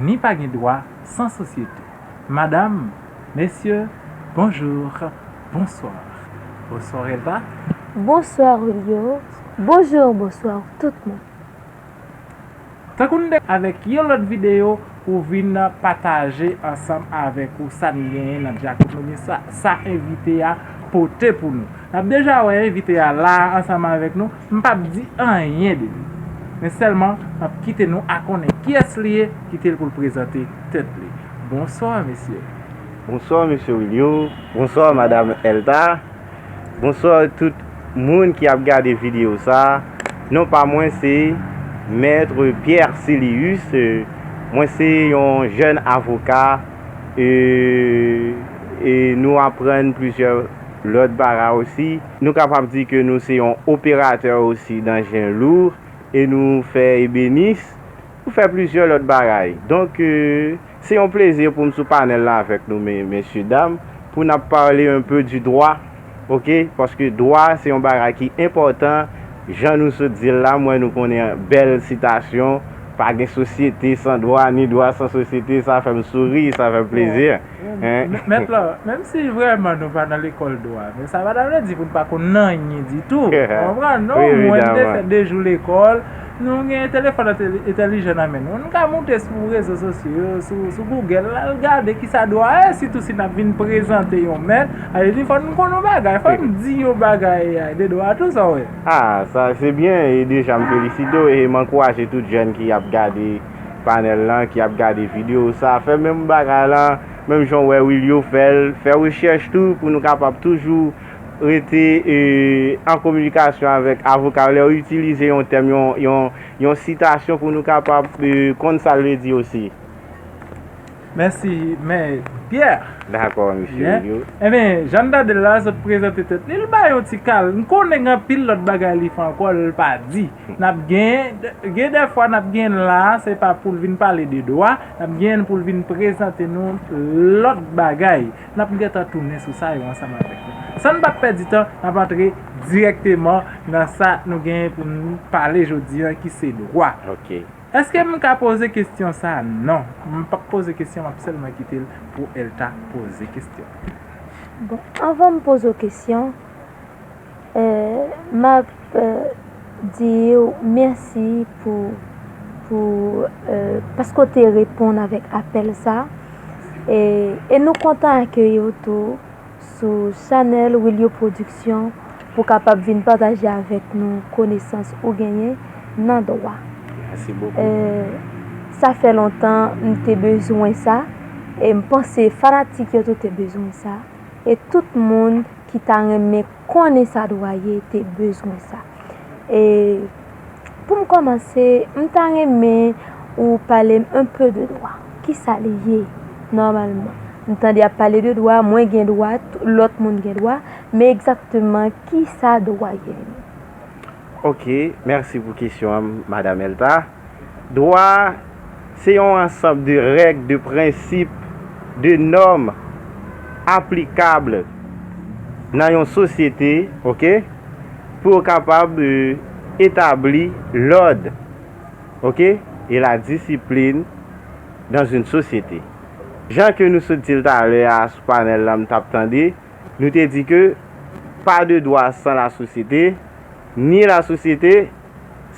Ni pa gen dwa san sosyete. Madam, Mesye, Bonjour, Bonsoir, Bonsoir Elba. Bonsoir Julio, Bonjour, Bonsoir tout moun. Tankou n te. Avèk yon lòt videyo pou vin pataje ansanm avèk ou sa n genyen nan Dyakonomi sa, sa envite a pote pou nou. Nap deja wè envite a la ansanm avèk nou, m pap di anyen de li. Men sèlman map kite nou a konnen kiyès li ye, kite l pou l prezante tèt li. Bonsoir mesye. Bonsoir mesye Wilio, bonsoir madam Elta, bonsoir tout moun ki ap gade video sa, non pa mwen se Maître Pierre Célius, mwen se yon jèn avoka e nou aprann plizyè Lòt bagay osi, nou kapab di ke nou se yon operatè osi dan jen lour e nou fè ebenis, nou fè plizyè lòt bagay. Donk, se yon plezi pou m sou panèl la avèk nou mesye dam, pou nap pale un peu du droit, ok, paske dwa se yon bagay ki enpòtan, jan nou sot di l la, m wè nou konnen bèl sitasyon, pa gen sosyete san dwa, ni dwa san sosyete, sa fè m souri, sa fè m plezi. Mèt la, menm si vrèman nou pa nan lekòl dwa, men sa pa ta vle di pou n pa konn anyen ditou. Ou konprann, non? Wi, evidaman. Mwen te fè de jou lekòl. Nou gen telefòn entèlijan nan men nou. Nou ka moute sou rezo sosyo yo, sou Google la, al gade ki sa dwa ye, sitou si n ap vin prezante yon mèt. Sa vle di fò n konn yon bagay, fò n di yon bagay de dwa tou, sa w wè. A, sa se byen. E deja m felisite w e m ankouraje tout jèn ki ap gade. panel lan ki ap gade video sa fè menm bagay lan menm jan w wè Wilio fèl fè rechèch tou pou nou kapab toujou rete an kominikasyon avèk avoka yo lè yo itilize yon tèm yon sitasyon pou nou kapab konn sa l vle di osi. Mèsi mè Pyè. Dakò mesye Wilio. Enben jan n tande l la sot prezante tèt li l bay yon ti kal m konnen gen anpil lòt bagay li fè ankò l pa di. Nap genyen, gen dè fwa nap genyen la a se pa poul vin pale de dwa, nap genyen poul vin prezante nou lòt bagay. Nap gentan tounen sou sa yo ansanm avèk nou. Sann pa pèdi tan, nap antre dirèkteman nan sa nou genyen pou nou pale jodi an ki se dwa. Eske m ka poze kestyon sa a? Non, m pap poze kestyon map sèlman kite l pou Elta poze kestyon. Bon, anvan m poze w kestyon, Map diw mèsi pou pou paske w te reponn avèk apèl sa e nou kontan akeyi w tou sou chanèl Wilio Production pou w kapab vin pataje avèk nou konesans ou genyen nan dwa. Sa fè lontan m te bezwen sa e m panse fanatik yo tou te bezwen sa e tout moun. ki ta renmen konnen sa dwaye te bezwen sa. E pou m kòmanse, m ta renmen ou pale m enpe de dwa. Ki sa li ye nòmalman? M tande y ap pale de dwa, mwen gen dwa, lòt moun gen dwa, men egzakteman ki sa dwa ye? Ok, mèsi pou kesyon an, Madam Elta. Dwa a se yon ansanb de règ, de prensip, de nòm aplikab nan yon sosyete ok pou yo kapab etabli lòd ok e la disiplin dans une société. Jan ke nou sot di l talè a sou panèl la m t ap tande, nou te di ke pas de droit sans la société, ni la société.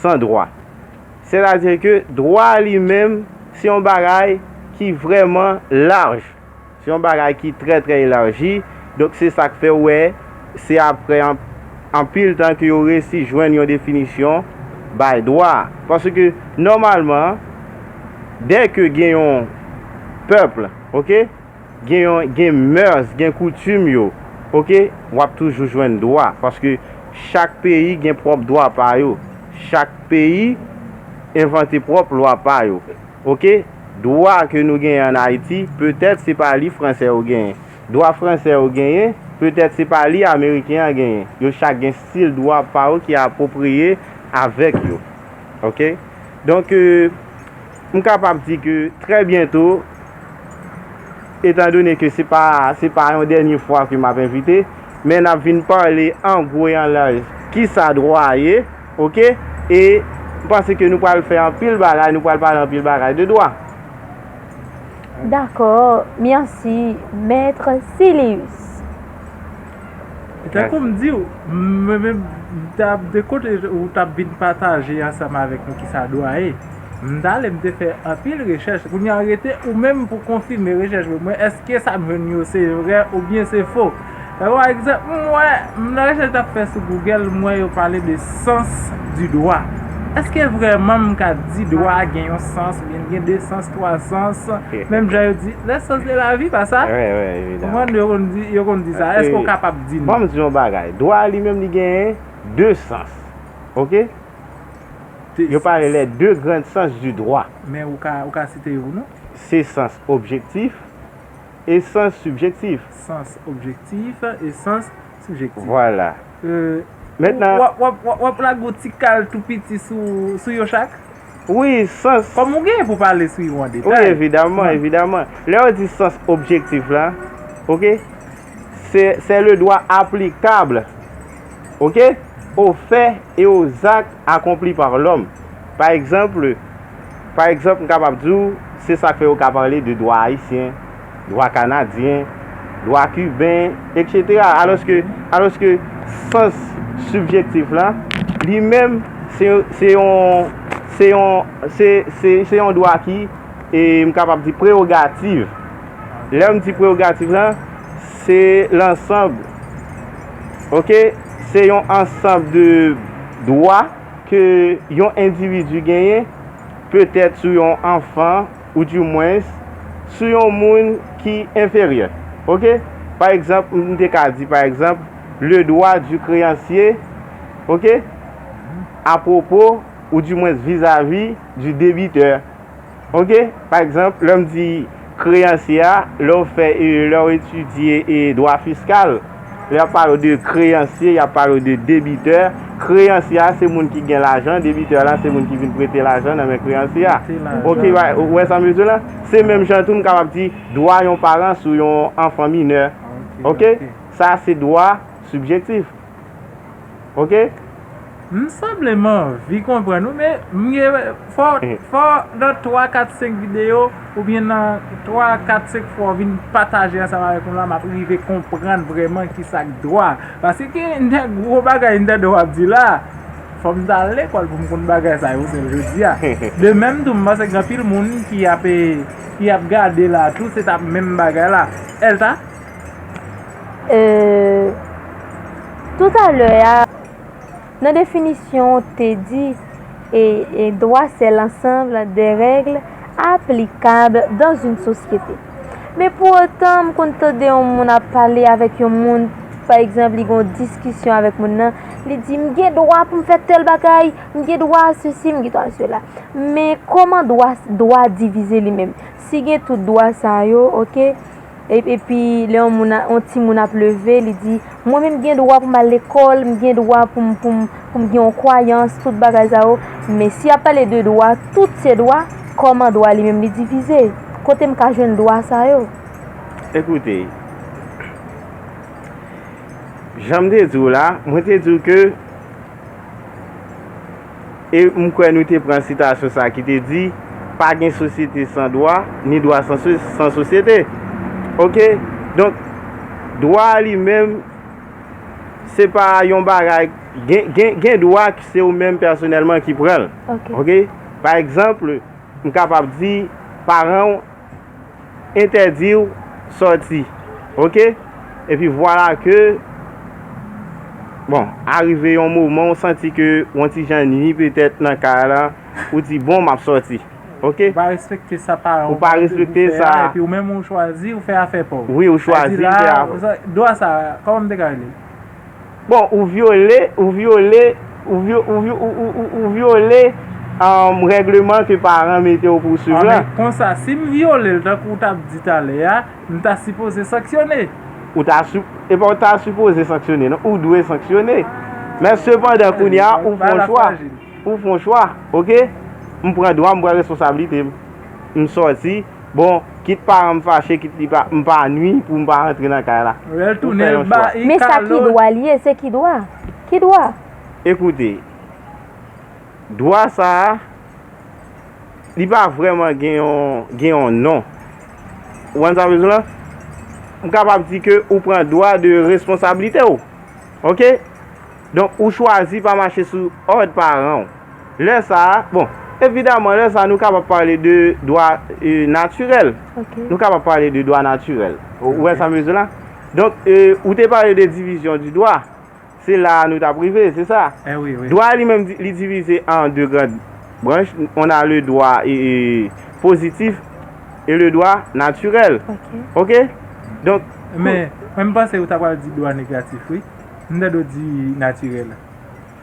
san dwa. Sètadi ke dwa li menm se yon bagay ki vrèman laj, se yon bagay ki trè trè elaji, donk se sa k fè ou wè se aprè anpil tan ke yo resi jwenn yon definisyon bay dwa. Paske nòmalman dè ke gen yon pèp, ok? Gen yon gen mœurs gen koutim yo ok wap toujou jwenn dwa paske chak peyi gen pròp dwa pa yo chak peyi envante pròp lwa pa yo ok dwa ke nou genyen an ayiti petèt se pa li fransè yo genyen dwa fransè yo genyen petèt se pa li ameriken an genyen yo chak gen stil dwa pa yo ki apropriye avèk yo ok donk. M kapab di ke trè byento, etan done ke se pa se pa yon dènye fwa ke m ap envite, men n ap vin pale an gwo e an laj ki sa dwa ye, ok, e m panse ke nou pral fè anpil bagay, nou pral pale anpil bagay de dwa. Dakò, mèsi, Mèt Silius. Tankou m di w, mwen menm m t ap de kote ou t ap vin pataje ansanm avèk nou kisa dwa ye. M t ale m te fè anpil rechèch, kounye a rete ou menm pou konfime rechèch mwen, mwen èske sa m jwenn yo se vrè oubyen se fo. Tankou pa egzanp m wè m nan rechèch m t ap fè sou Google m wè yo pale de sens du droit. Èske vrèman m ka di dwa gen yon sens? Li gen 2 sans, 3 sans. Menm jan yo di, le sans de la vie, pa sa? Wi, wi, evidaman. Ou konprann, yo konn di sa. Eske ou kapab di m? Banm di yon bagay. Dwa a li menm li genyen 2 sans. Ok? Yo pale les deux grandes sens du droit. Men ou ka, ou ka site yo pou nou? Se sans objektif e sans sibjektif. Sans objektif e sans. sibjektif. Vwala. Mentnan. W ap lage yon ti kal tou piti sou yo chak? Wi, sans. Kòm ou genyen pou pale sou yo an detay. Wi, evidaman, evidaman. Lè yo di sans objektif la, ok, se le dwa aplikab, ok, o fè e o zak akonpli pa lòm. Pa egzanp, Pa egzanp, m kapab di w, se sa k fè yo ka pale de dwa ayisyen, dwa kanadyen, dwa kiben, eksetera. Alòske, alòske sans sibjektif la, li menm, se, se yon, se yon, se, se, se yon dwa ki, e m kapab di prewogativ. Lè m di prewogativ la, se lansanb, ok, se yon ansanb de dwa. ke yon endividi genyen, petèt sou yon anfan ou di mwens sou yon moun ki enferyè. Ok? Pa egzanp, m te ka di, pa egzanp, le dwa di kreyansye, ok, apwopo ou di mwens vizavi di debitè Ok, pa egzanp, lè m di kreyansye a, lè w fè, lè w etidye dwa fiskal, lè y ap pale w de kreyansye, y ap pale w de debitè. Kreyansye a se moun ki gen lajan, debitè la se moun ki vin prete lajan nan men kreyansye a. Ok, ou wè sa m vle di w la? Se menm jan tou m kapab di dwa yon paran sou yon anfan minè. Ok, sa se dwa sibjektif. Ok. M sanble m anvi konprann ou men m gen fò nan 3 4 5 videyo oubyen nan 3 4 5 fwa ou vin pataje ansanm avèk mwen la map rive konprann vrèman kisa k dwa paske gen de gwo bagay m tande wap di la fòm ta al lekòl poum konn bagay sa yo sèl jodia de menm tou m panse gen anpil moun ki ap gade la tou se ta menm bagay la èl ta Tout a lè a, nan definisyon ou te di e dwa se lansanm de règle aplikab dan zin sosyete. Men pou otan m konn tande yon moun ap pale avèk yon moun, pa egzanp li gen yon diskisyon avèk moun nan, li di m gen dwa pou m fè tèl bagay, m gen dwa a sesi, m gen dwa a sela. Men kòman dwa divize li menm? Si gen tout dwa sa yo, ok. Epi lè yon timoun ap leve, li di, mwen menm m gen dwa pou m al lekòl, m gen dwa pou m gen yon kwayans, tout bagay sa yo. Men si y ap pale de dwa, tout se dwa, kòman dwa li menm li divize? Kote m ka jwenn dwa sa yo? Ekoute, jan m te di w la, mwen te di w ke. E m kwè nou te pran sitasyon sa ki te di, Pa gen sosyete san dwa, ni dwa san sosyete. Ok? Donk, dwa a li menm, se pa yon bagay, gen dwa ki se ou menm pèsonèlman ki pran l. Ok? Pa egzanp, m kapab di, paran ou, entèdiw sòti ok epi vwala ke bon arive yon moman ou santi ke yon ti jan nwi petèt nan kay la ou di bon map sòti ok ou pa respekte sa paran ou pa respekte sa epi ou menm ou chwazi ou fè afè paw wi ou chwazi ou fè afè paw dwa sa kòman m te ka relel. Bon ou vyole ou vyole ou vyo ou vyo ou ou ou ou vyole umm règleman ke paran mete w pou w swiv lan. Ah men konsa si m vyole l tankou w tap di talè a, m ta sipoze sanksyone? Ou ta si e pa w ta sipoze sanksyone non, ou dwe sanksyone. Men sepandan kounye a ou fon chwa, ou fon chwa ok, m pran dwa m, m pran responsablite m, m sòti. Bon kit paranm fache kit li pa m pa nwi pou m pa rantre nan kay la Lèl tounen l ba I kalot Men sa ki dwa l ye se ki dwa Ki dwa? Ekoute Dwa sa a Li pa vrèman gen yon gen yon non Ou konn sa m vle di w la M kapab di ke ou pran dwa de responsablite w Ok Donk ou chwazi pa mache sou òd paran w Lè sa a, bon, evidaman lè sa a nou kapab pale de dwa natirèl. Ok. Nou kapab pale de dwa natirèl. Ou wè sa m vle di la? Donk, ou te pale de divizyon di dwa. Se la a nou t ap rive, se sa? Eh wi, wi. Dwa li menm li divize an de grand branch. On a le dwa pozitif e le dwa natirèl. Ok. Ok? Donk. Men, mwen m panse ou ta pral di dwa negatif wi. M tande w di natirèl.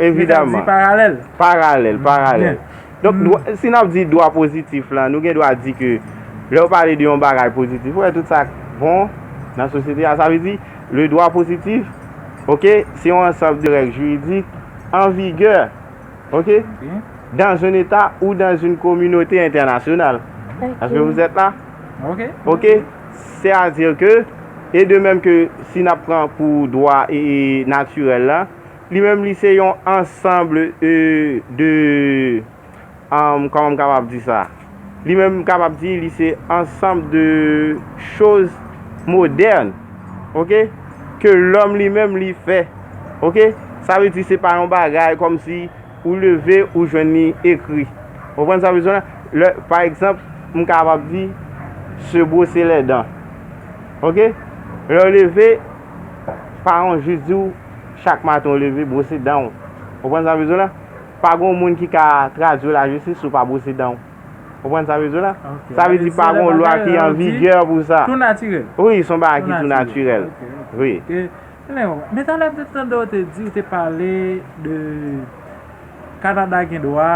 Evidaman. Paralèl. Paralèl, paralèl. Donk, si n ap di dwa pozitif la, nou gen dwa di ke lè ou pale de yon bagay pozitif, ou wè tout sa k bon nan sosyete a. Sa vle di, le dwa pozitif, ok, se yon ansanb de règ jiridik an vigè, ok, dans un eta ou dans une kominote entènasyonal. Est-ce que vous êtes là? Ok. Ok. Se a dire ke, e de menm ke si n ap pran pou dwa e natirèl la, Li menm li se yon ensemble de kòman m kapab di sa li menm m kapab di li se ensemble de choz modèn ok ke lòm li menm li fè ok sa vle di se pa yon bagay kòm si ou leve ou jwenn li ekri ou konprann sa m vle di w la pa egzanp m kapab di se bwose lèdan ok lè w leve paran w jis di w Chak maten ou leve, bwose dan ou. Konprann sa m vle di w la? Pa gon moun ki ka tradui lajistis si w pa bwose dan ou. Konprann sa m vle di w la? Sa vle di pa gon lwa ki an vigè pou sa. Tou natirèl. Wi, s on bagay ki tou natirèl. Wi. Men talè m te tande w te di, ou te pale de Kanada gen dwa,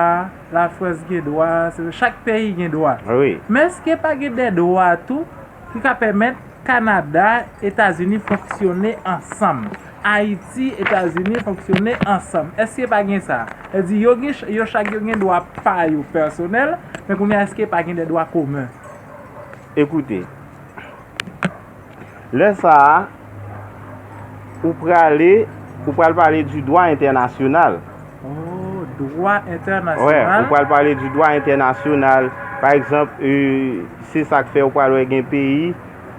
Lafrans gen dwa, chak peyi gen dwa. Wi. Men èske pa gen de dwa tou ki ka pèmèt Kanada, Etazini fonksyone ansanm. Ayiti, Etazini fonksyone ansanm. Èske pa gen sa? Sa vle di, yo gen, yo chak yo gen dwa pa yo pèsonèl, men kounye a èske pa gen dè dwa komen? Ekoute, lè sa a, ou prale, ou pral pale di dwa entènasyonal. Dwa entènasyonal. Wè, ou pral pale di dwa entènasyonal. Pa egzanp, se sa k fè ou pral wè gen peyi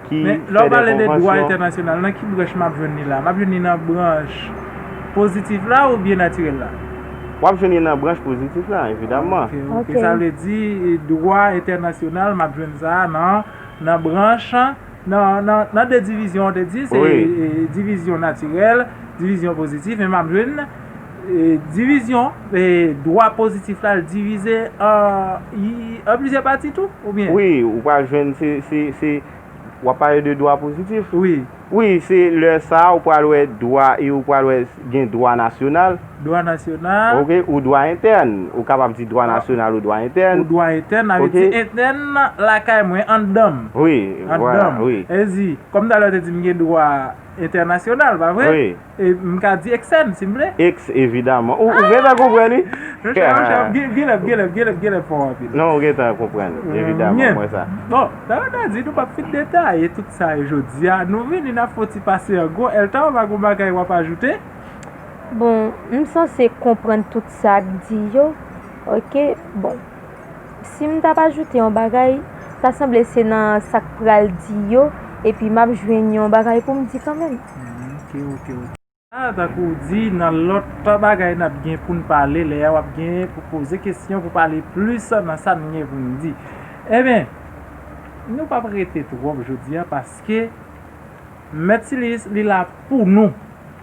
ki fè de konvansyon. Men, lè w pale de dwa entènasyonal, nan ki branch m ap jwenn li la? M ap jwenn li nan branch pozitif la oubyen natirèl la? W ap jwenn li nan branch pozitif la, evidaman. Ok, sa vle di dwa entènasyonal m ap jwenn sa nan branch, nan de divizyon ou te di, se divizyon natirèl, divizyon pozitif, men m ap jwenn. Divizyon, dwa pozitif la l divize an plizyè pati tou oubyen? Wi, ou pral jwenn se, w ap pale de dwa pozitif? Wi. Wi, se lè sa a ou pral wè dwa e ou pral wè gen dwa nasyonal. Dwa nasyonal. Ok, ou dwa entèn. Ou kapab di dwa nasyonal ou dwa entèn. Ou dwa entèn, sa vle di entèn lakay mwen, anndan m. Wi, voilà, wi. Anndan m. Sa vle di, kòm talè ou te di m gen dwa entènasyonal, pa vre? Wi. E m ka di eksèn si m vle. Eks evidaman. Ou gentan konprann wi. Non chè, non chè, genlè, genlè, genlè, genlè fò anpil. Non ou gentan konprann. Evidaman, m wè sa. Bon, sa vle di nou pap fin detaye tout sa yo jodi a. Nou vini n ap fè yon ti pase an gwo. Elta ou pa gen yon bagay w ap ajoute? Bon, m sanse konprann tout sa k di yo. Ok, bon. Si m t ap ajoute yon bagay, ta sanble se nan sa k pral di yo epi m ap jwenn yon bagay pou m di kanmenm. Tank ou di, nan lòt bagay n ap gen pou n pale, lè a w ap gen pou poze kesyon pou pale plis nan sa n gen pou n di. Enben, nou p ap rete twòp jodi a paske. Mèt Siliis li la pou nou.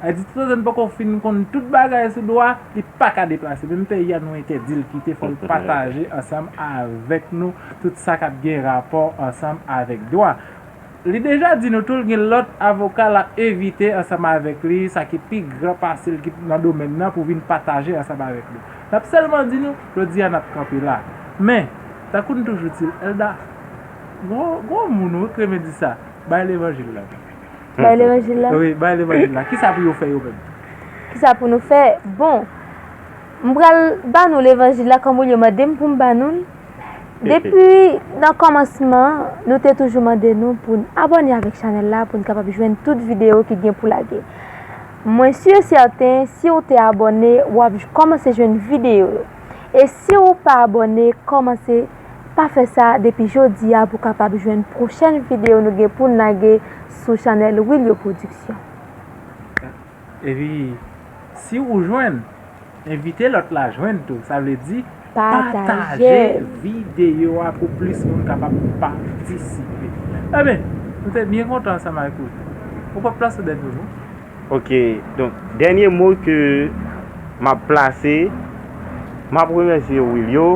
Ayiti tout otan n poko fin konn tout bagay sou dwa, li pa ka deplase. Menm peyi a nou entèdi l kite fò l pataje ansanm avèk nou tout sa k ap gen rapò ansanm avèk dwa. Li deja di nou tou l gen lòt avoka l ap envite ansanm avèk li sa ki pi gran pase l ki nan domèn nan pou vin pataje ansanm avèk nou. N ap sèlman di nou jodi a n ap kanpe la. Men, tankou n toujou di l, Elda, gwo moun ou wi k renmen di sa. Bay levanjil la. Bay levanjil la? Wi, bay levanjil la. Kisa pou yo fè yo menm? Kisa pou nou fè? Bon, m pral ba nou levanjil la kòm ou yo mande m pou m ba nou l. Depi nan kòmansman, nou te toujou mande nou pou n abòne avèk chanèl la pou n kapab jwenn tout videyo ki gen pou lage. Mwen si e sèten, si ou te abòne, w ap kòmanse jwenn videyo yo. E si ou pa abòne, kòmanse. Pa fè sa depi jodi a pou kapab jwenn pwochèn video nou gen poun lage sou chanèl Wilio Production. Epi si ou jwenn, envite lòt la jwenn tou, sa vle di pataje video a pou plis moun kapab patisipe. Ebyen, nou te byen kontan ansanm avèk ou. Ou pap plas ou dèt ou non. Ok donk dènye mo ke map plase map remèsye w Wilio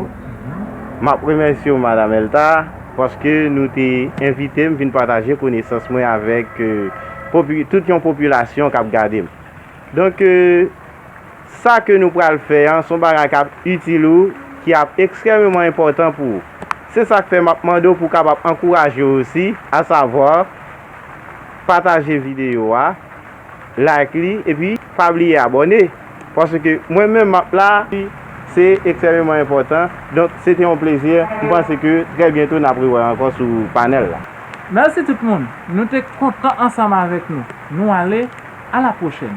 map remèsye w madam Elta paske nou te envite m vin pataje konesans mwen avèk tout yon popilasyon kap gade m donk sa ke nou pral fè an son bagay kap itil ou ki ap ekstrèmeman enpòtan pou ou se sak fè map mande w pou w kapab ankouraje osi asavwa. Pataje video a, like li epi pa bliye abòne paske mwen menm map la epi se ekstrememan enpòtan donk se te yon plezi m panse ke trè byento nap rewè ankò sou panèl la. Mèsi tout moun nou te kontan ansanm avèk nou nou ale a la pwochèn.